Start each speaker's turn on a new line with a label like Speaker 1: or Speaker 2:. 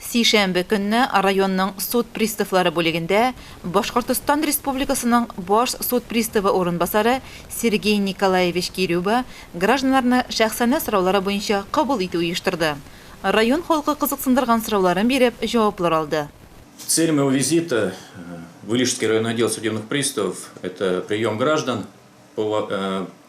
Speaker 1: Сишәмбе көнне районның суд приставлары бүлегендә Башкортостан Республикасының Баш суд приставы урынбасары Сергей Николаевич Кирюба гражданнарны шәхсәнә сораулары буенча кабул итү оештырды. Район халкы кызыксындырган сорауларын биреп, җаваплар алды. Цель моего
Speaker 2: визита в Илишский районный отдел судебных приставов это прием граждан по